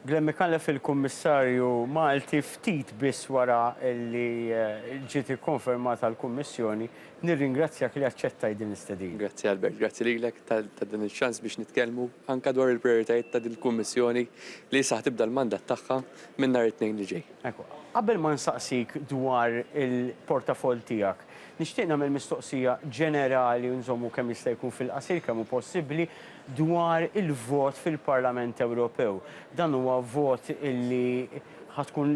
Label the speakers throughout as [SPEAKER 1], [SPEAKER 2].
[SPEAKER 1] Glen Micallef il-Kummissarju Malti ftit biss wara li ġiet ikkonfermata l-Kummissjoni, nirringrazzjak li aċċettajt din l-istedina. Grazzi Albert, grazzi
[SPEAKER 2] lilek ta' dan iċ-ċans biex nitkellmu anke dwar il-prijoritajiet ta' din il-Kummissjoni li issa ħa tibda l-mandat tagħha minn nhar it-Tnejn li ġej. Ekku, qabel ma
[SPEAKER 1] nsaqsik dwar il-portafoll tiegħek, nixtieq nagħmel mistoqsija ġenerali u nżommu kemm jista' jkun fil-qasir kemm hu possibbli. dwar il-vot fil-Parlament Ewropew. Dan huwa vot li ħa tkun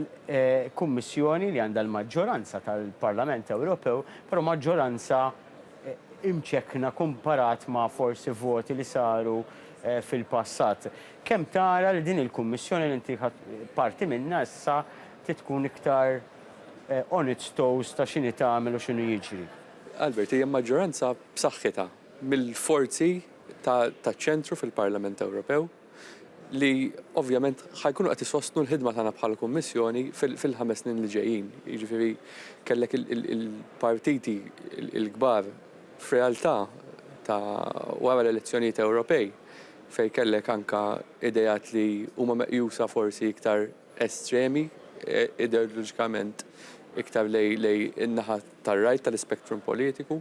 [SPEAKER 1] Kummissjoni li għandha l-maġġoranza tal-Parlament Ewropew, però maġġoranza imċekkna kumparat ma' forsi voti li saru fil-passat. Kemm tara li din il-Kummissjoni li inti ħadt parti minnha issa trid tkun iktar on its toes ta' x'inhi tagħmel u x'inhu jiġri? Albert, hija
[SPEAKER 2] maġġoranza b'saħħitha, mill-forzi taċ-ċentru fil-Parlament Ewropew li ovvjament ħa jkunu qed isostnu l-ħidma tagħna bħala Kummissjoni fil-ħames snin li ġejjin. Jiġifieri kellek il-partiti l-kbar f'realtà ta' wara l-elezzjonijiet Ewropej fejn kellek anke ideat li huma meqjusa forsi iktar estremi ideoloġikament iktar lejn in-naħa tar-right tal-ispectrum politiku.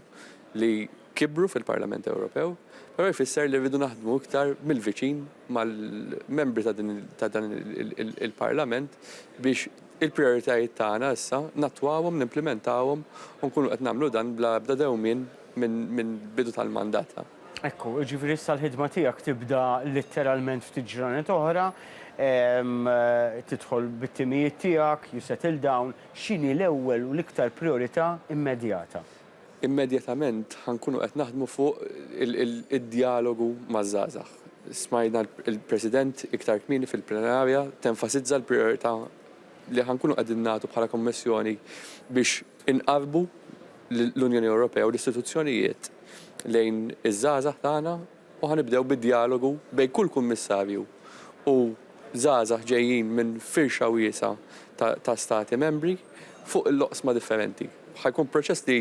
[SPEAKER 2] li kibru fil-Parlament Ewropew, però jfisser li rridu naħdmu iktar mill-viċin mal-membri ta' dan il-Parlament biex il-prijoritajiet tagħna issa nattwawhom, nimplimentawhom u nkunu qed nagħmlu dan bla ebda dewmien minn bidu tal-mandat. Ekku, jiġifieri
[SPEAKER 1] issa l-ħidma tiegħek tibda litteralment ftit ġranet oħra, tidħol bit-timijiet tiegħek, you settle down, x'inhi l-ewwel u l-iktar prijorità immedjata? Immedjatament
[SPEAKER 2] ħa nkunu qed naħdmu fuq id-djalogu maż-żgħażagħ. Smajna l-President iktar kmieni fil-plenarja tenfasizza l-prijorità li ħa nkunu qegħdin nagħtu bħala Kummissjoni biex inqarrbu l-Unjoni Ewropea u l-istituzzjonijiet lejn iż-żgħażagħ tagħna, u ħa nibdew bid-djalogu bejn kull Kummissarju u żgħażagħ ġejjin minn firxa wiesgħa ta' ta' Stati Membri fuq il-oqsma differenti. Ħa jkun proċess li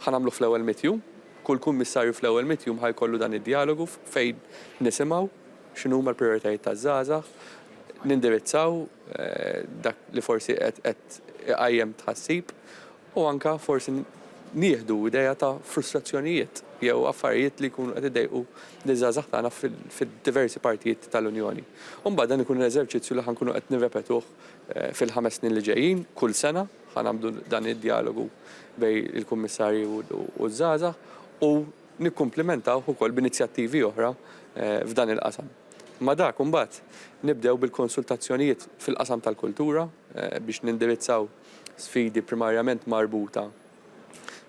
[SPEAKER 2] ħa nagħmluh fl-ewwel mitt jum, kull Kummissarju fl-ewwel mitt jum ħa jkollu dan id-djalogu fejn nisimgħu x'inhuma l-prijoritajiet taż-żgħażagħ, nindirizzaw dak li forsi qed qed iqajjem tħassib u anke forsi nieħdu idea ta' frustrazzjonijiet jew affarijiet li jkunu qed iddejqu liż-żgħażagħ tagħna fid-diversi partijiet tal-Unjoni. U mbagħad dan ikun l-eżerċizzju li ħa nkunu qed nirrepetuh fil-ħames snin li ġejjin, kull sena ħa nagħmlu dan id-djalogu bejn il-Kummissarji u ż-żgħażagħ u nikkumplimentawh ukoll b'inizjattivi oħra f'dan il-qasam. Ma' dak imbagħad nibdew bil-konsultazzjonijiet fil-qasam tal-kultura biex nindirizzaw sfidi primarjament marbuta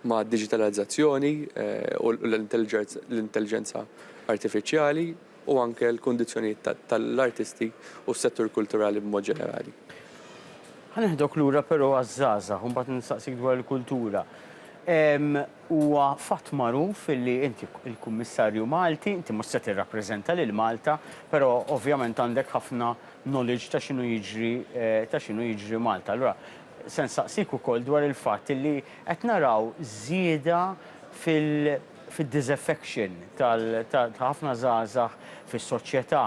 [SPEAKER 2] mad-diġitalizzazzjoni u l-intelliġenza artifiċjali u anke l-kundizzjonijiet tal-artisti u s-settur kulturali b'mod ġenerali. Ħa
[SPEAKER 1] neħdok lura però għaż-żgħażagħ u mbagħad nistaqsik dwar il-kultura. Huwa fatt magħruf li inti l-Kummissarju Malti, inti mhux se tirrappreżenta lil Malta, però ovvjament għandek ħafna knowledge ta' x'inhu jiġri ta' x'inhu jiġri Malta. Allura se nsaqsik ukoll dwar il-fatt illi qed naraw żieda fil fid-disaffection tal ta' ħafna żgħażagħ fis-soċjetà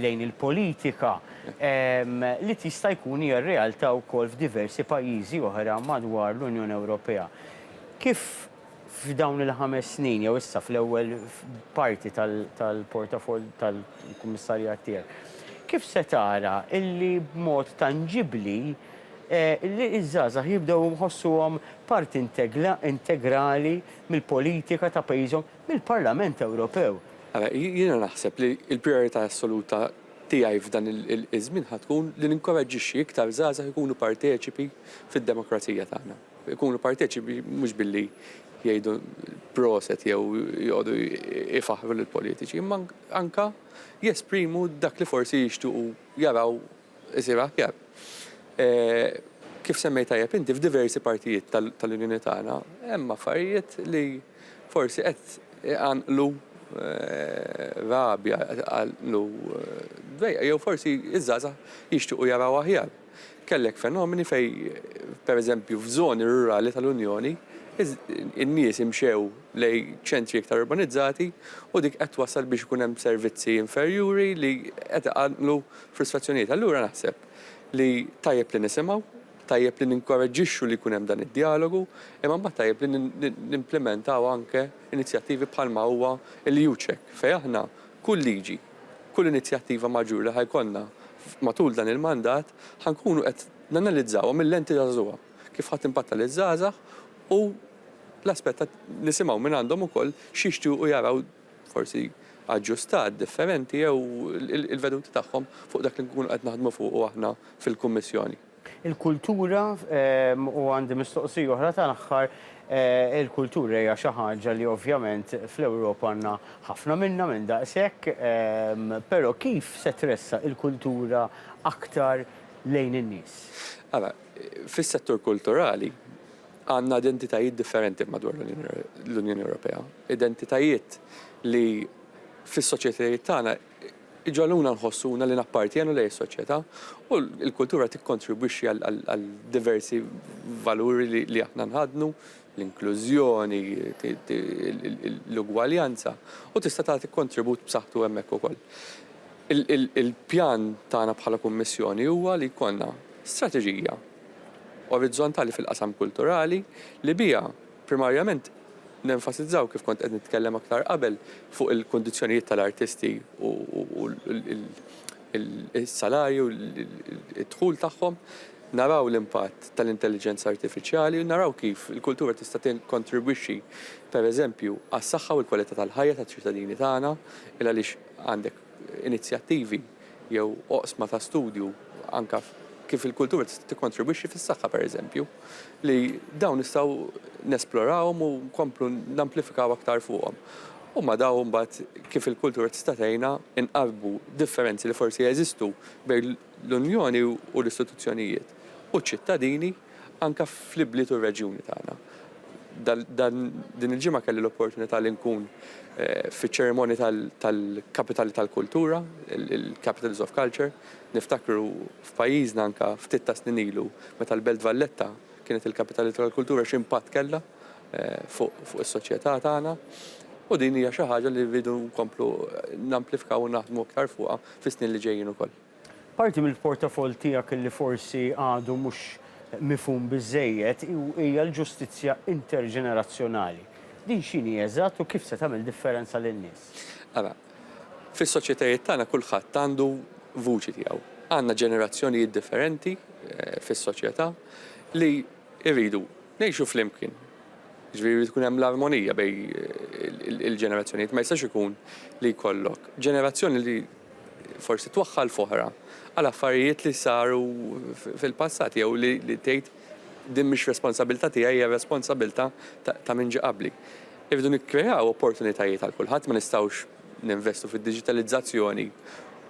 [SPEAKER 1] lejn il-politika li tista' jkun hija r-realtà wkoll f'diversi pajjiżi oħra madwar l-Unjoni Ewropea. Kif F'dawn il-ħames snin, jew issa fl-ewwel parti tal-portafoll tal-kummissarjat tiegħek, kif se tara li b'mod tanġibbli ż-żgħażagħ jibdew iħossuhom parti integrali mill-politika ta' pajjiżhom, mill-Parlament Ewropew? Ara, jiena
[SPEAKER 2] naħseb li l-prijorità assoluta tiegħi f'dan iż-żmien ħa tkun li ninkoraġġixxi iktar żgħażagħ ikunu parteċipi fid-demokrazija tagħna. Ikunu parteċipi mhux billi jgħidu proset jew joqogħdu jfaħħru lill-politiċi, imma anke jesprimu dak li forsi jixtiequ jaraw isir aħjar. Kif semmejt tajjeb inti, f'diversi partijiet tal-Unjoni tagħna hemm affarijiet li forsi qed iqanqlu rabja, qed iqanqlu dwejjaq jew forsi ż-żgħażagħ jixtiequ jaraw aħjar. Kellek fenomeni fejn, pereżempju, f'żoni rurali tal-Unjoni, in-nies imxew lejn ċentri iktar urbanizzati u dik qed twassal biex ikun hemm servizzi inferjuri li qed iqanqlu frustrazzjonijiet. Allura naħseb li tajjeb li nisimgħu, tajjeb li ninkoraġġixxu li jkun hemm dan id-djalogu, imma mbagħad tajjeb li nimplimentaw anke inizjattivi bħalma huwa l-EUCEC fejn aħna kull liġi, Kull inizjattiva maġġur li ħa jkollna matul dan il-mandat ħa nkunu qed nanalizzawha mil-lenti taż-żgħa, kif ħa timpatta liż-żgħażagħ u l-aspett ta' nisimgħu minn għandhom ukoll x'jixtiequ jaraw forsi aġġustat, differenti jew il-veduti tagħhom fuq dak li nkunu qed naħdmu fuqu aħna fil-Kummissjoni. Il-kultura,
[SPEAKER 1] u għandi mistoqsija oħra tal-aħħar, il-kultura hija xi ħaġa li ovvjament fl-Ewropa għandna ħafna minnha, minn daqshekk, però kif se tressaq il-kultura aktar lejn in-nies? Ara,
[SPEAKER 2] fis-settur kulturali għandna identitajiet differenti madwar l-Unjoni Ewropea, identitajiet li fis-soċjetajiet tagħna iġagħluna nħossuna li nappartjenu lejn is-soċjetà u l-kultura tikkontribwixxi għal diversi valuri li aħna nħaddnu, l-inklużjoni, l-ugwaljanza u tista' tagħti kontribut b'saħħtu hemmhekk ukoll. Il-pjan tagħna bħala Kummissjoni huwa li jkollna strateġija orizzontali fil-qasam kulturali li biha Primarjament, nenfasizzaw, kif kont qed nitkellem aktar qabel, fuq il-kundizzjonijiet tal-artisti u s-salarji u d-dħul tagħhom, naraw l-impatt tal-intelliġenza artifiċjali u naraw kif il-kultura tista' tikkontribwixxi, pereżempju, għas-saħħa u l-kwalità tal-ħajja taċ-ċittadini tagħna, il għaliex għandek. inizjattivi jew oqsma ta' studju anke kif il-kultura tista' tikkontribwixxi fis-saħħa pereżempju, li dawn nistgħu nesplorahom u nkomplu namplifikaw aktar fuqhom. Huma dawn mbagħad kif il-kultura tista' tgħinna nqarrbu differenzi li forsi jeżistu bejn l-Unjoni u l-istituzzjonijiet u ċ-ċittadini, anke fl-ibliet u r-reġjuni tagħna. Din il-ġimgħa kelli l-opportunità li nkun fiċ-ċerimonji tal-Kapitali tal-Kultura, il-Capitals of Culture. Niftakru f'pajjiżna anke ftit ta' snin ilu meta l-Belt Valletta kienet il-Kapitali tal-Kultura x'impatt kellha fuq is-soċjetà tagħna. U din hija xi ħaġa li rridu nkomplu namplifkaw u naħdmu aktar fuqha fis-snin li ġejjin ukoll. Parti
[SPEAKER 1] mill-portafoll tiegħek li forsi għadu mhux mifhum biżżejjed hija l-ġustizzja interġenerazzjonali. Din x'inhi eżatt u kif se tagħmel differenza lin-nies? Ara,
[SPEAKER 2] fis-soċjetajiet tagħna kulħadd għandu vuċi tiegħu. Għandna ġenerazzjonijiet differenti fis-soċjetà li rridu ngħixu flimkien. Jiġifieri jrid ikun hemm l-armonija bejn il-ġenerazzjonijiet. Ma jistax ikun li jkollok ġenerazzjoni li forsi twaħħal f'oħra għal affarijiet li saru fil-passat jew li tgħid din mhix responsabilità tiegħi hija responsabilità ta' min ġie qabli. Irridu nikkreaw opportunitajiet għal kulħadd, ma nistgħux ninvestu fid-diġitalizzazzjoni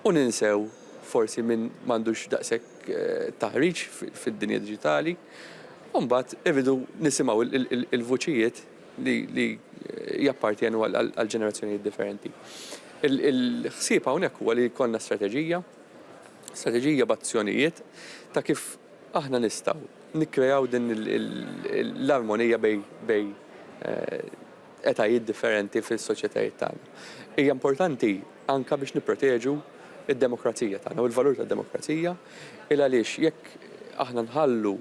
[SPEAKER 2] u ninsew forsi min m'għandux daqshekk taħriġ fid-dinja diġitali. U mbagħad irridu nisimgħu l-vuċijiet li jappartjenu għal ġenerazzjonijiet differenti. Il-ħsieb hawnhekk huwa li jkollna strateġija, strateġija b'azzjonijiet ta' kif aħna nistgħu nikkreaw din l-armonija bejn etajiet differenti fis-soċjetajiet tagħna. Hija importanti anke biex nipproteġu d-demokrazija tagħna u l-valur tad-demokrazija, il għaliex jekk aħna nħallu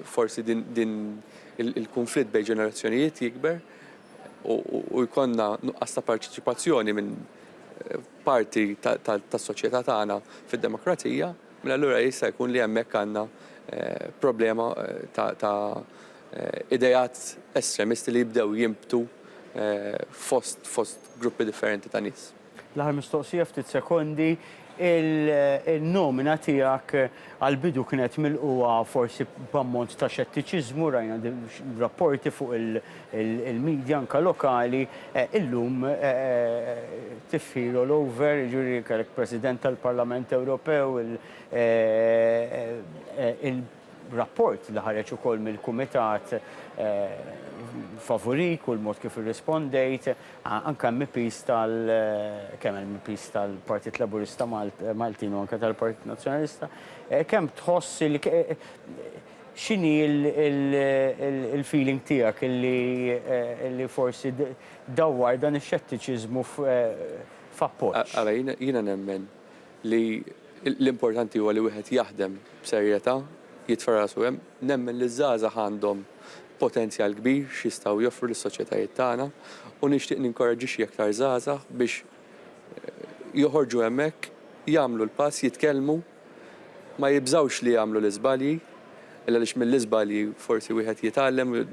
[SPEAKER 2] Forsi din il-kunflitt bejn ġenerazzjonijiet jikber u jkollna nuqqas ta' parteċipazzjoni minn parti tas-soċjetà tagħna fid-demokrazija, mela allura jista' jkun li hemmhekk għandna problema ta' ideat estremisti li jibdew jinbtu fost gruppi differenti ta' nies. L-aħħar mistoqsija
[SPEAKER 1] ftit sekondi, il-nomina tiegħek għall-bidu kienet milqugħa forsi b'ammont ta' xettiċiżmu, rajna rapporti fuq il-midja anke lokali, illum tifħir all over, jiġifieri kellek President tal-Parlament Ewropew, Rapport li ħareġ ukoll mill-Kumitat favorik u l-mod kif irrispondejt, anke MEPs tal, kemm MEPs tal-Partit Laburista Maltin u anke tal-Partit Nazzjonalista, kemm tħoss li, x'inhi l-feeling tiegħek li forsi dawwar dan ix-xettiċiżmu f'appoġġ? Ara, jiena
[SPEAKER 2] nemmen li l-importanti huwa li wieħed jaħdem b'serjetà, jitfa' rasu hemm. Nemmen li ż-żgħażagħ għandhom potenzjal kbir x'jistgħu joffru lis-soċjetajiet tagħna u nixtieq ninkoraġġixxi aktar żgħażagħ biex joħorġu hemmhekk, jagħmlu l-pass, jitkellmu, ma jibżgħux li jagħmlu l-iżbalji, għaliex mill-iżbalji forsi wieħed jitgħallem u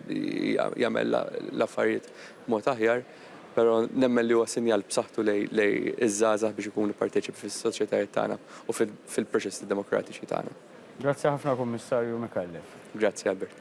[SPEAKER 2] jagħmel l-affarijiet b'mod aħjar. Però nemmen li huwa sinjal b'saħħtu lejn iż-żgħażagħ biex ikunu parteċipi fis-soċjetajiet tagħna u fil-proċessi demokratiċi tagħna. Grazzi ħafna
[SPEAKER 1] Kummissarju
[SPEAKER 2] Micallef.
[SPEAKER 1] Grazzi
[SPEAKER 2] Albert.